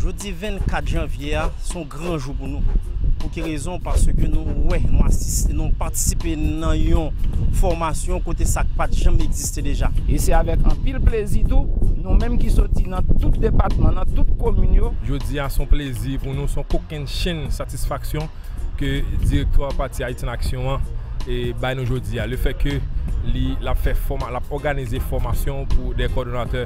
Jodi 24 janvye a se yon gran jou pou nou. Pou ki rezon? Paske nou wè, nou asiste, nou patisipe nan yon fòmasyon kote sa k pa t janm egziste deja. E se avèk anpil plezi tou, nou menm ki soti nan tout depatman, nan tout komin yo, Jodi a se yon plezi pou nou, se yon kokennchenn satisfaksyon ke direktwa pati Ayiti an Aksyon an bay nou jodi a, lefètke li ap fè fòma, l ap òganize fòmasyon pou dè kòdonatè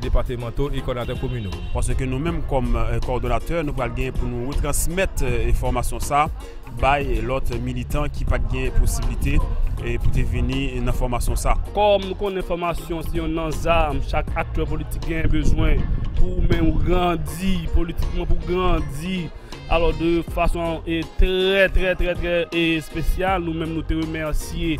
depatemanto e kòdonatè komino. Paske nou menm kòm kòdonatè, nou pral gen pou nou retransmèt enfòmasyon sa a bay lòt militan ki pa t gen posiblite pou te vini nan fòmasyon sa a. Kòm nou konnen fòmasyon se yonn nan zam chak aktè politik genyen bezwen pou men ou grandi politikman, pou grandi Alò de fason trè trè trè trè espesyal nou menm nou te remèsye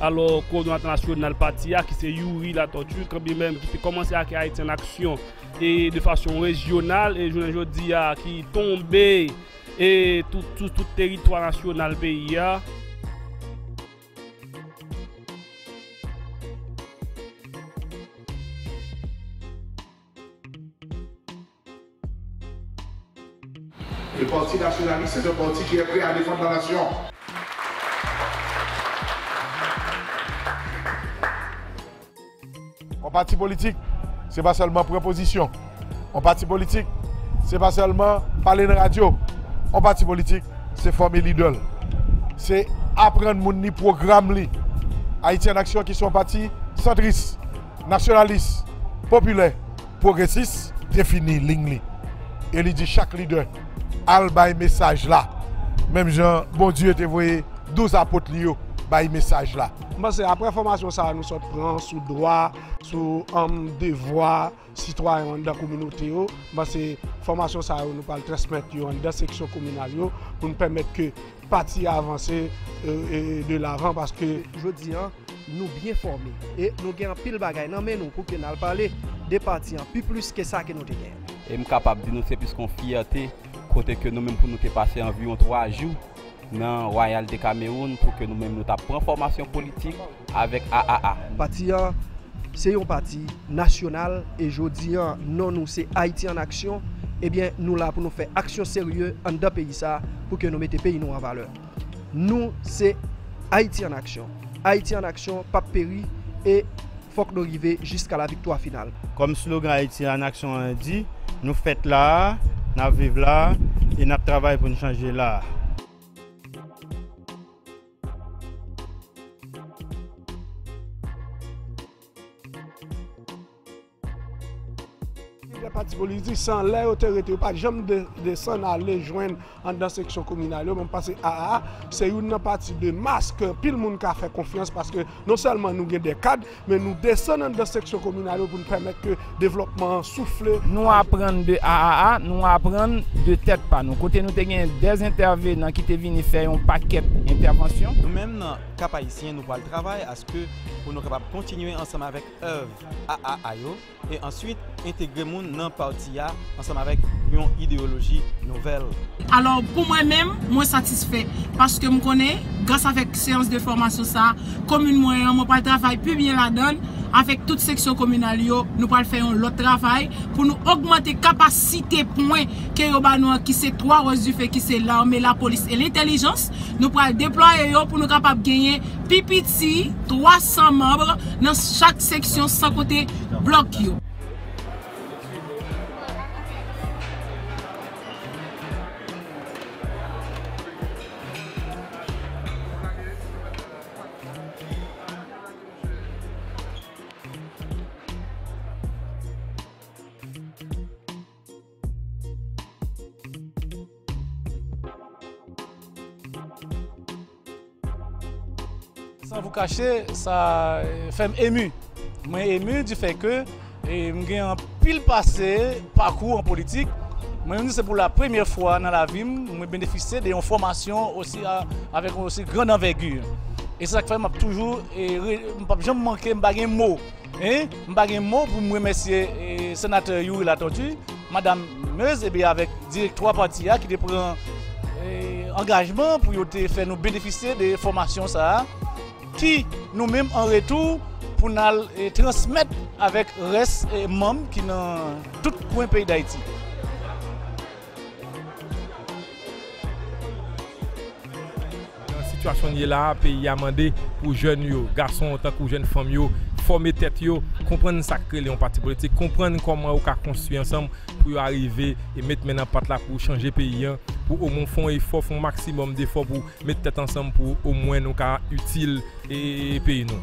alò kowòdonatè nasyonal pati a ki se Youri Latortue kanbi menm ki te kòmanse ake Ayiti an aksyon e de fason rejyonal e jounen jodi a ki tonbe e tou sou tout teritwa nasyonal peyi a. Le Parti Nationaliste est un parti qui est prêt à défendre la nation. Yon pati politik se pa sèlman pran pozisyon. Yon pati politik se pa sèlman pale nan radyo. Yon pati politik se fòme lidè l. Se aprann moun li pwogram li. Ayiti an Aksyon ki se yon pati santris. Nasyonalis, popilè, pwogresis defini liy li e li di chak lidè al bay mesaj la menm jan Bondye te voye douz apot li yo bay mesaj la. M panse aprè fòmasyon sa nou sot pran sou dwa, sou devwa sitwayen anndan kominote yo, m panse fòmasyon sa yo nou pral transmèt yo anndan seksyon kominal yo pou nou pèmèt ke Pati a vanse de lavan paske. Jodi an, nou byen fòme e nou gen anpil bagay nan men nou pou ke n al pale de pati an pi plis ke sa ke nou te gen. E m kapab di nou se plis kon fyète kote ke nou menm pou nou te pase anviwon 3 jou nan Royal de Cameroun pou ke nou menm nou ta pran fòmasyon politik. avèk aaa. Pati an se yon pati nasyonal e jodi an non nou se Ayiti an Aksyon ebyen nou la pou nou fè aksyon serye anndan peyi sa pou ke nou mete peyi nou an valè. Nou se Ayiti an Aksyon. Ayiti an Aksyon p ap peri e fòk nou rive jiska la viktwa final. Kòm slogan Ayiti an Aksyon an di, Nou fèt la a, n ap viv la a e n ap travay pou n chanje la a. Lidè pati politik sa, lè yo te rete, yo pa janm desann ale jwenn anndan seksyon kominal yo. Mwen panse aa, se youn nan pati de mas ke anpil moun ka fè konfyans paske non sèlman nou gen de kad, Men nou desann anndan seksyon kominal yo pou n pèmèt ke devlòpman an soufle. Nou aprann de AAA, nou aprann de tèt pa nou. Kote nou te gen 2 entèvenan ki te vini fè yon pakèt entèvansyon. Nou menm nan Cap Haïtien nou pral travay aske pou nou kapab kontinye ansanm avèk èv AAA yo. e answit entegre moun nan pati a ansanm avèk yon ideyoloji nouvèl. Alò pou mwen menm, mwen satisfè, paske m konnen, gras avèk seyans de fòmasyon sa, komin mwen an, mwen pral travay pi byen ladan l, avèk tout seksyon kominal yo, nou pral fè yon lòt travay, pou nou ogmante kapasite pwen ke yo ba nou an ki se 3 wòch dife ki se lame, lapolis e lentèlijans, nou pral deplwaye yo pou nou kapab genyen pi piti 300 manb nan chak seksyon san konte blòk yo. San vou kache, sa fè m emu. Mwen emu di fè ke m gen anpil pase, pakou an politik. Mwen menm di se pou la premyè fwa nan lavi m, mwen benefisye de yon fòmasyon osi avèk yon osi grand anvègu. E se sa k fè m ap toujou, m p ap janm manke, m pa gen mo. Hein m pa gen mo pou m remèsye Senatè Youri Latortue, Madam Meuse e avèk direktwa pati a ki te pran angajman pou yo te fè nou benefisye de fòmasyon sa a ki nou menm an retou pou n al transmèt avèk rès manm ki nan tout kwen peyi Dayiti. Nan sitiyasyon n ye la a, peyi a mande pou jèn yo, gason tankou jèn fanm yo, fòme tèt yo, konprann sa k rele yon pati politik, konprann kòman yo ka konstwi ansanm pou yo arive e met men nan pat la pou chanje peyi an, pou omwen fè yon efò, fè yon maksimòm defò pou met tèt ansanm pou omwen nou ka itil peyi nou.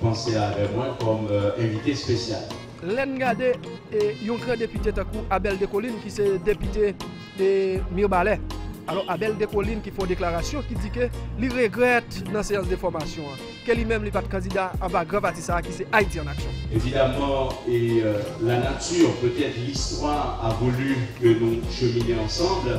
Panse avè mwen kòm envite espesyal. Lè n gade yon gran depite tankou Abel Descollines ki se depite Mirbalè. Alò Abel Descollines ki fè yon deklarasyon ki di ke li regrèt nan seyans de fòmasyon an ke li menm li pa t kandida anba gran pati sa a ki se Haïti en action. Evidamman e la nature, peut-être l'histoire a voulu que nous cheminer ensemble.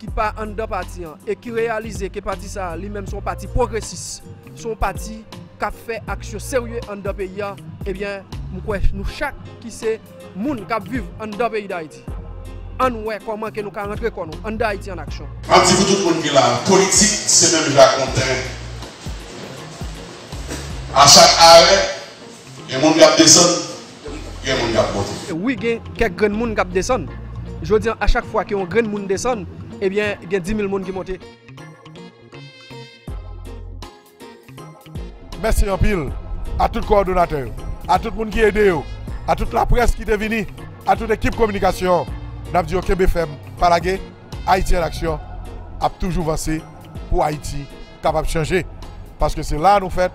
ki pa anndan pati an e ki reyalize ke pati sa a li menm se yon pati pwogresis, se yon pati k ap fè aksyon serye anndan peyi a, ebyen m kwè nou chak ki se moun k ap viv anndan peyi Dayiti, ann wè kòman ke nou ka rantre kò nou anndan Ayiti an aksyon. M ap di pou tout moun ki la a, politik se menm jan ak yon tren. A chak arè, gen moun k ap desann. Gen moun kap monte. Wi gen kèk grenn moun kap desann. Jodi an a chak fwa ke yon grenn moun desann ebyen gen dimil moun ki monte. Mèsi anpil a tout kowòdonatè yo, a tout moun ki ede yo, a tout laprès ki te vini, a tout ekip kominikasyon an. N ap di yo kenbe fèm, pa lage. Ayiti an Aksyon ap toujou vanse pou Ayiti kapab chanje. Paske se la a nou fèt,